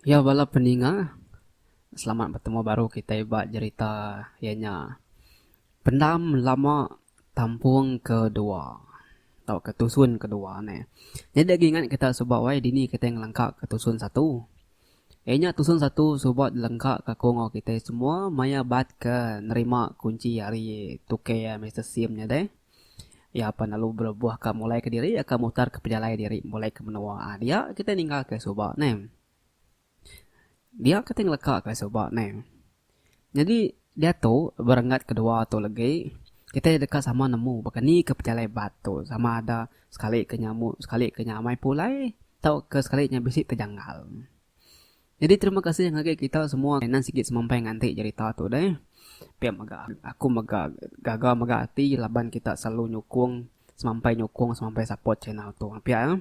Iya bala peninga selamat betemu baru kitai ba jerita iya nya Pendam Lama Tampung ke Dua tau ke Tusun ke Dua ne. Nyadi agi ingat kita suba wai dini kitai ngelengka ke Tusun Satu Iya nya tusun satu suba dilengka ka aku enggau kitai semua maya bat ke nerima kunchi ari Tukey iya Mister Sim nya deh. Iya apai lalu berebuh ka mulai ke diri iya ka mutar ke pejalai diri mulai ke menua. Aa dia kitai ninggal ke suba neh. Dia kitai ngeleka ke suba neh. Nyadi, diatu berengat kedua tu legi, kitai deka sama nemu baka ni ke pejalai bat tu sama ada sekali ke nya amu sekali ke nya amai pulai tauka sekali nya bisi tejanggal. Nyadi terima kasih ngagai kita semua ke nan sigi semampai nganti jerita tu deh. Pia mega aku mega gaga mega ati laban kita selalu nyukung semampai nyukung semampai support channel tu api ya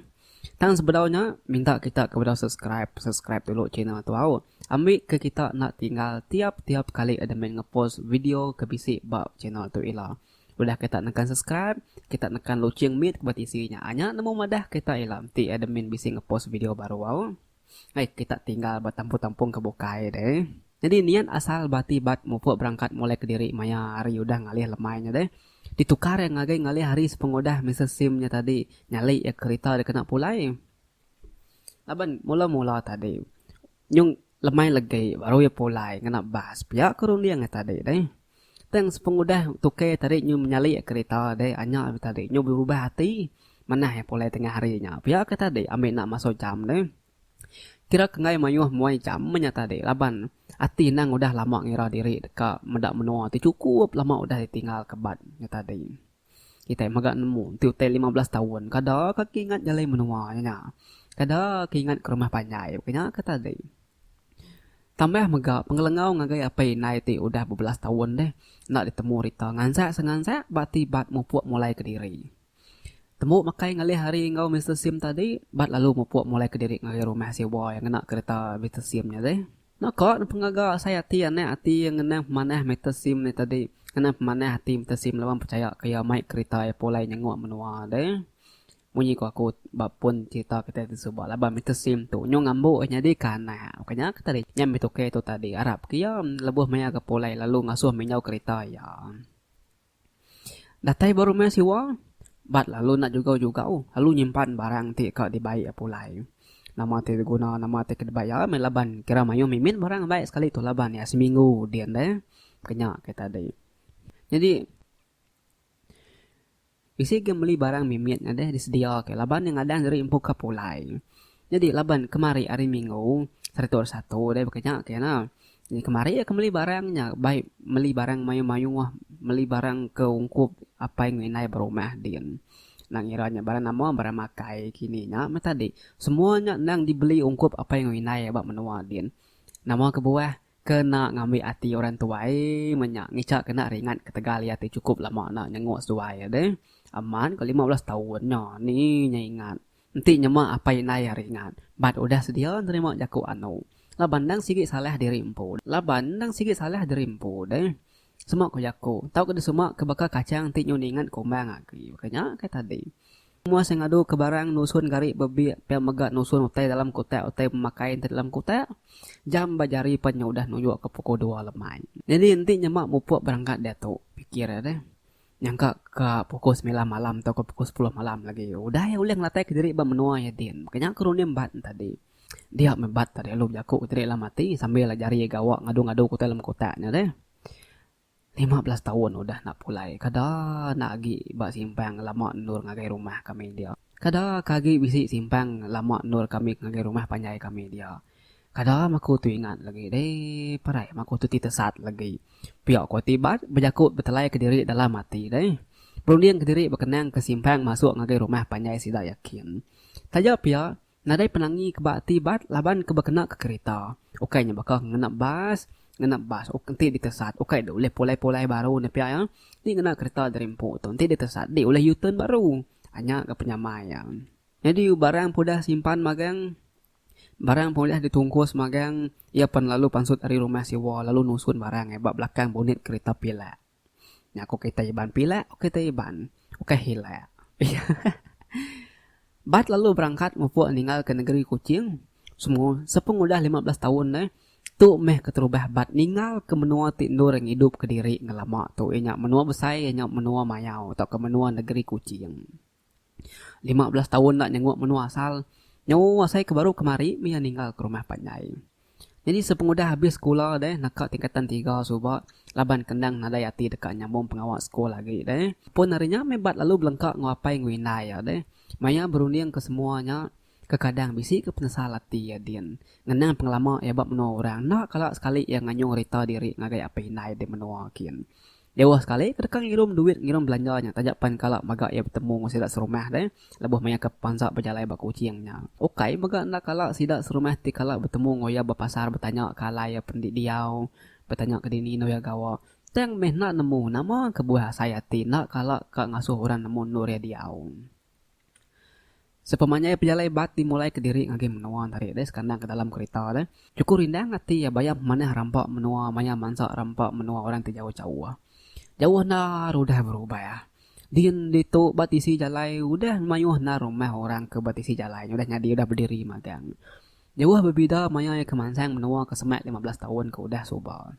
tang sebedau nya minta kita ke bedau subscribe subscribe dulu channel tu au ambi ke kita enda tinggal tiap tiap kali ada main ngepost video ke bisi ba channel tu ila udah kita nekan subscribe kita nekan loceng mit ke ba tisi nya nya nemu madah kita ila enti admin bisi ngepost video baru au. Ai kita tinggal ba tampung-tampung ke bukai deh. Nyadi niat asal ba ati bat mupuk berangkat molek kediri maya hari udah ngalih lemai nya deh. Ditukar iya ngagai ngalih hari sepengudah mesej sim nya tadi nyali iya kerita dikena pulai. Laban mula-mula tadi nyung lemai legi baru iya pulai ngena bas pia ke runding iya tadi deh. Tang sepengudah tukai tadi nyu menyalik kerita dek anya be tadi nyu berubah ati manah iya pulai tengah hari nya pia ke tadi ambi enda masuk jam ne kira enggai mayuh muai jam meh nya tadi laban ati nang udah lama ngira diri deka meda menua ti cukup lama udah ditinggal ke bat nya tadi. Kitai mega nemu enti utai lima belas taun kada ka keingat jalai menua nya nya. Kada keingat ke rumah panjai ke nya ke tadi. Tambah mega pengelengau ngagai apai indai ti udah bebelas taun deh enda ditemu rita ngansek sengansek ba ti bat mupuk mulai kediri. Temu makai ngalih hari enggau Mister Sim tadi bat lalu mupuk mulai kediri ngagai rumah sewa yang ngena kereta Mister Sim nya deh. Naka ne pengaga asai ati anak ati iya ngenang pemanah Mister Sim ne tadi. Ngenang pemanah ati Mister Sim laban pechaya ke iya mai kerita iya pulai nyenguk menua de. Munyi ku aku ba pun cherita kitai ti suba laban Mister Sim tu nyau ngambu iya nyadi ke anak. Bukan nya ke tadi nya meh tukar tu tadi arap ke iya lebuh maya ke pulai lalu ngasuh minjau kerita iya. Datai ba rumah siwa, bat lalu enda jugau-jugau lalu nyimpan barang ti ka dibai iya pulai. Nama ti diguna nama ti ke dibai iya meh laban kira mayuh mimit barang bai sekali tu laban iya seminggu din deh. Kenya ke tadi. Nyadi bisi ke meli barang mimit nya deh disedia ke laban iya ngadang diri empu ka pulai. Nyadi laban kemari hari minggu satu hari satu deh ba kenya ke nah. Nya kemari iya ke meli barang nya bai meli barang mayuh-mayuh, meli barang ke ungkup apai enggau indai berumah din. Endang ngira nya barang nama barang makai kini nya meh tadi. Semua nya endang dibeli ungkup apai enggau indai ba menua din. Nama kebuah kena ngambi ati orang tuai meh nya ngicha kena ringat ketegal iya ti chukup lama enda nyenguk seduai deh. Amat ko lima belas taun nya ni nya ingat. Enti nyema apai indai ari ingat bat udah sedia nerima jaku anu laban endang sigi salah diri empu laban endang sigi salah diri empu deh sema ku jaku tauka disema ke baka kachang enti nyu ningat kumbang agi baka nya kai tadi mua se ngadu ke barang nusun gari bebik pia mega nusun utai dalam kutak utai pemakai enti dalam kutak jam ba jari pen nya udah nunjuk ke pukul dua lemai nyadi enti nyema mupuk berangkat diatu pikir deh Nyangka ka pukul semilan malam tauka pukul sepuluh malam lagi udah iya ulih ngelatai ka diri ba menua iya din. Maka nya ke Ronim bat ne tadi. Dia meh bat tadi lalu bejaku ke diri lalu mati sambil jari iya gawa ngadu-ngadu ke utai lem kotak nya deh. Lima belas taun udah enda pulai kada enda agi ba simpang lama endur ngagai rumah kami dia. Kada ka agi bisi simpang lama endur kami ngagai rumah panjai kami dia. Kada maku tu ingat lagi deh parai maku tu ti tesat lagi pia ko ti bat bejaku betelai kediri dalam ati deh berunding kediri bekenang ke simpang masuk ngagai rumah panjai sida yakin taja pia nadai penangi ke ba ati bat laban ke bekena ke kerita ukai nya baka ngena bas ngena bas uk enti ditesat ukai deh ulih pulai pulai baru ne pia iya enti ngena kereta dari empu tu enti ditesat deh ulih u-turn baru anya ga penyamai iya nyadi barang peudah simpan magang. Barang pen ulih ditungkus magang iya pen lalu pansut ari rumah siwa lalu nusun barang ai ba belakang bonit kerita pilak. Nya ko kerita Iban pilak ko kerita Iban ukai hilak. Bat lalu berangkat mupuk ninggal ke negeri Kuching semua sepengudah lima belas taun neh tu meh keterubah Bat ninggal ke menua ti endur ngidup kediri ngelama tu iya nya menua besai iya nya menua mayau tauka menua negeri Kuching. Lima belas taun enda nyenguk menua asal. Nyawa asai ke baru kemari meh iya ninggal ke rumah panjai. Nyadi sepengudah abis sekula deh naka tingkatan tiga suba laban ke endang nadai ati deka nyambung pengawa sekul agi deh. Pun ari nya meh Bat lalu belengka enggau apai enggau indai iya deh. Maya berunding ke semua nya, Kekadang bisi ke penesal ati iya din ngenang pengelama iya ba menua orang enda kala sekali iya nganyung rita diri ngagai apai indai di menua kin. Jauh sekali ke deka ngirum duit ngirum belanja nya taja pan kala mega iya betemu enggau sida serumah deh lebuh maya ke pansa bejalai ba Kuching nya. Ukai mega enda kala sida serumah ti kala betemu enggau iya ba pasar betanya ke alai iya pen di diau, betanya ke dini endur iya gawa tang meh enda nemu nama kebuah asai ati enda kala ka ngasuh orang nemu endur iya diau. Sepemanjai pejalai bat dimulai kediri ngagai menua enti hari deh sekandang ke dalam kerita deh. Chuku rindang ati iya bayam manah rampa menua maya mansa rampa menua orang ti jauh-jauh. Jauh enda udah berubah. Din ditu ba tisi jalai udah mayuh enda rumah orang ke ba tisi jalai nya udah nyadi udah bediri magang. Jauh bebida maya iya ke mansang menua ke semak lima belas taun ke udah suba.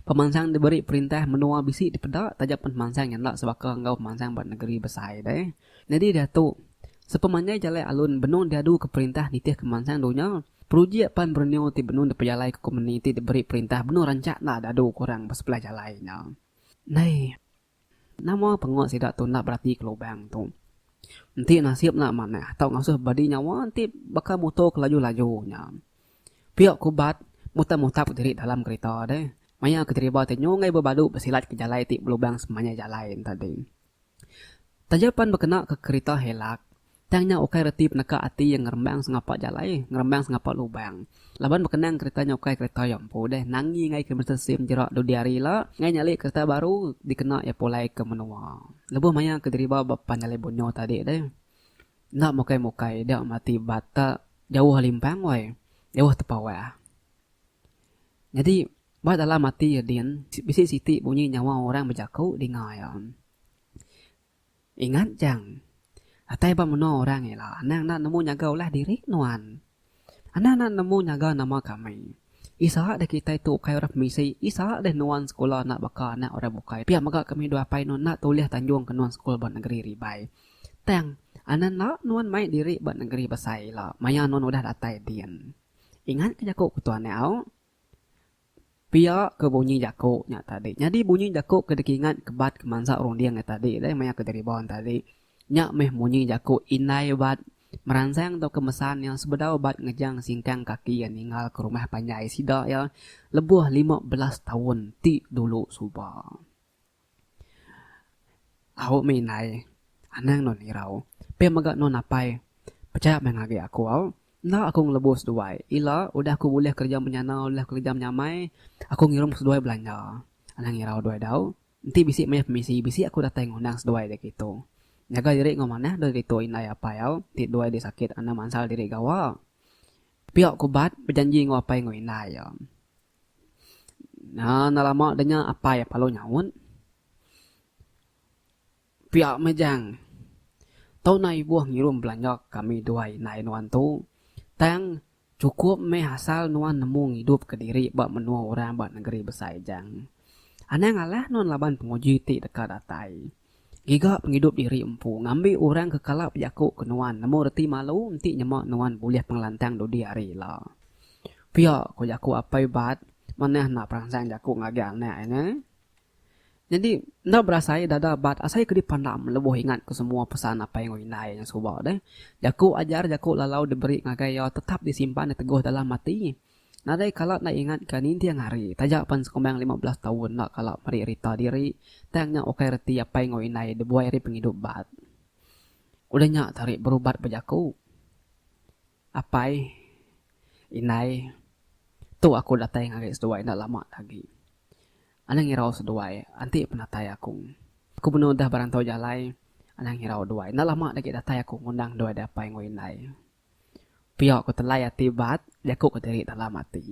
Pemansang diberi perintah menua bisi dipeda taja pemansang nya enda sebaka enggau pemansang ba negeri besai deh. Nyadi diatu, sepemanjai jalai alun benung diaduka perintah nitihka pemansang dunya, projek pan berenew ti benung dipejalaika kompeni ti diberi perintah benung rancak enda diadu ke orang ba sebelah jalai nya. Nai. Nama pengut sida tu enda beratika lubang tu. Enti nasib enda manah tau ngasuh badi nyawa enti baka muto ke laju-laju nya. Pia ku Bad mutap-mutap diri dalam kerita deh maya ke deriba ti nyunggai bebadu besilat ke jalai ti belubang semanjai jalai enti tadi. Taja pan bekena ke kerita helak, Tang nya ukai reti peneka ati iya ngerembang sengapa jalai, ngerembang sengapa lubang. Laban bekenang kereta nya ukai kereta iya empu deh nangi engai kilometer sim jerak dudi hari ila engai nyali kereta baru dikena iya pulai ke menua. Lebuh maya ke diriba ba pan jalai Bunyo tadi deh. Enda mukai-mukai dia mati batak jauh limpang woi. Jauh tepawah. Nyadi ba dalam ati iya din bisi siti bunyi nyawa orang bejaku dinga iya. Ingat jang. Datai ba menua orang ila anang enda nemu nyaga ulah diri nuan. Anang enda nemu nyaga nama kami. Isa deh kitai tu ukai orang pemisi, isa deh nuan sekula enda baka anak orang bukai pia mega kami dua apai nuan enda tulih tanjung ke nuan sekul ba nengeri ribai. Tang, anang enda nuan mai diri ba nengeri besai ila maya nuan udah datai din. Ingat ke jaku ketuan nyau. Pia ke bunyi jaku nya tadi. Nyadi bunyi jaku ke dikingat kebat kemansa runding nya tadi deh maya ke Jariban tadi. Nya meh bunyi jaku indai bat meransang tauka mesan iya sebedau bat ngejang singkang kaki iya ninggal ke rumah panjai sida iya lebuh lima belas taun ti dulu suba. Au meh indai. Anang non irau. Pia mega non apai. Pechaya meh ngagai aku au. Enda aku ngelebu seduai. Ila udah aku bulih kereja menyana udah kereja menyamai aku ngirum seduai belanja. Anang irau dua dau. Enti bisi maya pemisi bisi aku datai ngundang seduai dek ditu. Nyaga diri enggau manah deh ditu indai apai au ti duai deh sakit enda mansal diri gawa. Pia ku bat bejanji enggau apai enggau indai iya. Haa enda lama deh nya apai iya lalu nyaut. Pia meh Jang. Tau nai ibuh ngirum belanja kami duai indai nuan tu. Tang chukup meh asal nuan nemu ngidup ke diri ba menua orang ba negeri besai Jang. Anang alah nuan laban penguji ti deka datai. Giga pengidup diri empu ngambi orang ke kala bejaku ke nuan nemu reti malu enti nyema nuan bulih pengelantang dudi hari ila. Pia ko jaku apai Bud manah enda peransang jaku ngagai anak iya neh. Nyadi enda berasai dada Bud asai ke dipandam lebuh ingat ke semua pesan apai enggau indai iya nyen suba deh. Jaku ajar jaku lalau diberi ngagai iya tetap disimpan diteguh dalam ati. Nadai kala enda ingat ke ninting hari taja pan sekumbang lima belas taun enda kala meri rita diri tang nya ukai reti apai enggau indai dibuai ari pengidup bat. Udah nya tari berubat bejaku. Apai, indai, tu aku datai ngagai seduai enda lama agi. Anang ngirau seduai enti penatai aku. Aku benung udah berantau jalai anang ngirau duai enda lama agi datai aku ngundang duai dek apai enggau indai. Pia ku telai ati bat jaku ke diri dalam ati.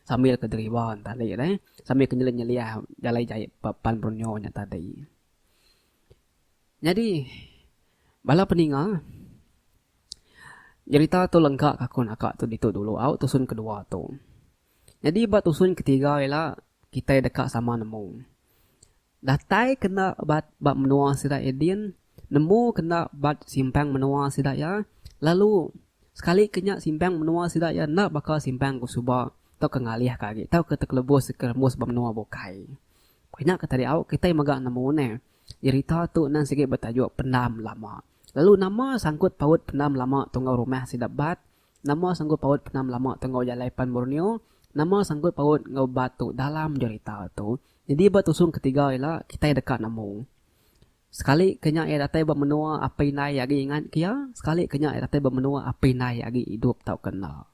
Sambil ke deriba ne tadi deh, sambil ke nyelih nyelih jalai jai ba pan Borneo nya tadi. Nyadi bala peninga jerita tu lengka ka aku naka tu ditu dulu au tusun ke dua tu. Nyadi ba tusun ke tiga ila kitai deka sama nemu. Datai ke enda bat ba menua sida Eden, nemu ke enda bat simpang menua sida iya, lalu sekali ke nya simpang menua sida iya enda baka simpang ke suba tauka ngalih ka agi tauka tekelebus ke rembus ba menua bukai. Ke nya ke tadi au kitai mega nemu ne jerita tu endang sigi betajuk Pendam Lama. Lalu nama sangkut paut Pendam Lama tungau rumah sida bat Nama sanggut paut penam lama tu enggau jalai pan Borneo? Nama sanggut paut enggau ba tu dalam jerita tu? Nyadi ba tusung ketiga ila, kitai deka nemu. Sekali ke nya iya datai ba menua apai indai iya agi ingat ke iya, sekali ke nya iya datai ba menua apai indai iya agi idup tauka enda.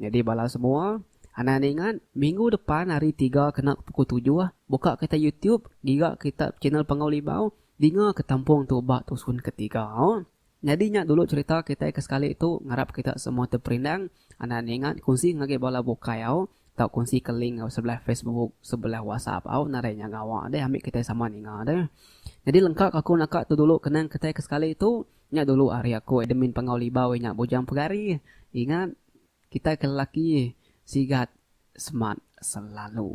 Nyadi bala semua, anang enda ingat, minggu depan hari tiga kena ke pukul tujuh, buka kita YouTube, giga kita channel Panggau Libau, dinga ke tampung tu ba tusun ketiga. Nyadi nya dulu cherita kitai ke sekali tu ngarap kita semua terperindang anda ningat kunsi ngagai bala bukai au tau kunsi ke link enggau sebelah Facebook sebelah WhatsApp au nadai nya ngawa deh ambi kitai sama ninga deh nyadi lengka ke aku naka tu dulu kenang kitai ke sekali tu nya dulu ari aku admin Pangau Libau inya Bujang Pegari ingat kitai ke lelaki sigat semat selalu.